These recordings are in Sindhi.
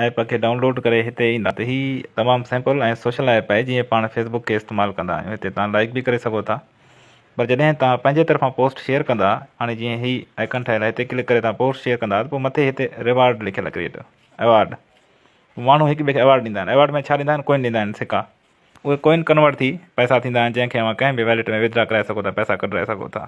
ايپ کي ڊائونلوڊ ڪري هتي ايندا ته هي تمام سمپل ۽ سوشل ايپ آهي جيئن پاڻ فيس بڪ کي استعمال ڪندا آهيون هتي توهان لائيڪ به ڪري سگهو ٿا پر جڏهن توهان پنهنجي طرفان پوسٽ شيئر ڪندا هاڻي جيئن هي آئڪن ٺهيل آهي هتي ڪلڪ ڪري توهان پوسٽ شيئر ڪندا ته پوء مٿي هتي ريوارڊ لکيل ڪريئٽ ايوارڊ ماڻهو هڪ ٻئي کي ايوارڊ ڏيندا آهن ايوارڊ ۾ ڇا ڏيندا آهن ڪوئن ڏيندا آهن سڪا اهي ڪوئن ڪنورٽ ٿي پئسا ٿيندا آهن جنهن کي اوهان ڪنهن به ويلٽ ۾ وٿ ڊرا ڪرائي سگهو ٿا پئسا ڪڍرائي سگهو ٿا.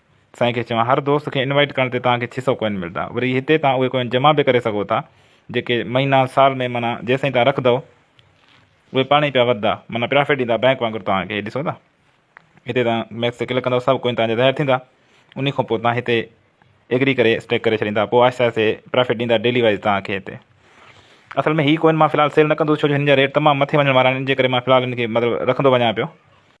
سائين کي چوان هر دوست کي انوائيٽ ڪرڻ تي توهان کي ڇهه سؤ ڪوئن ملدا وري هتي توهان اهي ڪوئن جمع به ڪري سگهو ٿا جيڪي مهينا سال ۾ معنيٰ جيسين توهان رکندؤ اهي پاڻ ئي پيا وڌدا معنيٰ پرافٽ ڏيندا بئنڪ وانگر توهان کي هي ڏسو ٿا هتي توهان ميڪس تي ڪلڪ ڪندؤ سڀ ڪوئن توهان جا ظاهر ٿيندا انهي کان پوء توهان هتي ايگري ڪري اسٽيڪ ڪري ڇڏيندا پوء آهستي آهستي پرافٽ ڏيندا ڊيلي وائز توهان کي هتي اصل ۾ هي ڪوئن مان في الحال سيل نه ڪندو ڇو جو هن جا ريٽ تمام مٿي وڃڻ وارا آهن ان جي ڪري مان في الحال هن کي مطلب رکندو وڃان پيو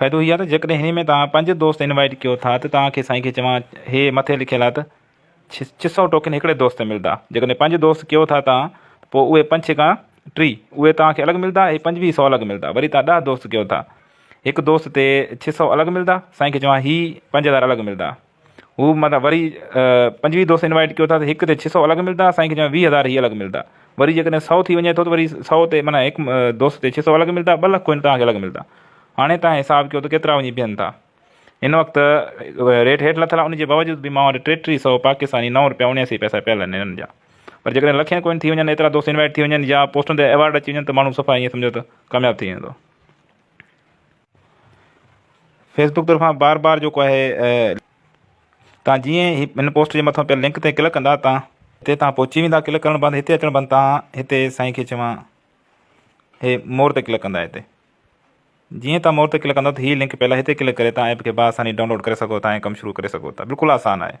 فائدو هي آ ته جيڪڏهن هني ۾ توهان پنج دوست انوائيٽ ڪيو ٿا ته توهان کي سائين کي چوان هي مٿي لکيل آ ته ڇهه سئو ٽوڪن هڪڙي دوست تي ملدا جيڪڏهن پنج دوست ڪيو ٿا توهان ته پوء اهي پنج ڇيڪا ٽي اهي توهان کي الڳ ملدا هي پنجويهه سئو الڳ ملدا وري توهان ڏهه دوست ڪيو ٿا هڪ دوست تي ڇهه سئو الڳ ملدا سائين کي چوان هي پنج هزار الڳ ملدا. هو متان وري پنجويهه دوست انوائيٽ ڪيو ٿا ته هڪ تي ڇهه سؤ الڳ ملدا اسان کي چيو ويهه هزار هي الڳ ملدا وري جيڪڏهن سؤ ٿي وڃي ٿو ته وري سؤ تي معنيٰ هڪ دوست تي ڇهه سؤ الڳ ملدا ٻه لک ڪوئن توهان کي الڳ ملدا هاڻي توهان حساب ڪيو ته ڪيترا وڃي بيهن ٿا هن وقت ريٽ هيٺ لٿل آهي ان جي باوجود به مان وٽ ٽي ٽي سؤ پاڪستاني نو روپيا اڻياسي پئسا پيل آهن هنن جا پر جيڪڏهن لکين ڪوئن ٿي وڃن ايترا دوست انوائيٽ ٿي وڃن يا پوسٽن تي ايوارڊ اچي وڃن ته ماڻهو صفا ائين سمجهو ته ڪامياب ٿي ويندو فيس بڪ طرفان بار بار جيڪو آهي تان جيئن هي هن پوسٽ جي مٿان پيل لنڪ تي ڪلڪ ڪندا تان هتي تان پهچي ويندا ڪلڪ ڪرڻ بعد هتي اچڻ بعد تان هتي سائين کي چوان هي مور تي ڪلڪ ڪندا هتي جيئن تان مور تي ڪلڪ ڪندا ته هي لنڪ پيل هتي ڪلڪ ڪري تان ايپ کي باساني ڊائونلوڊ ڪري سگهو تان ڪم شروع ڪري سگهو تان بلڪل آسان آهي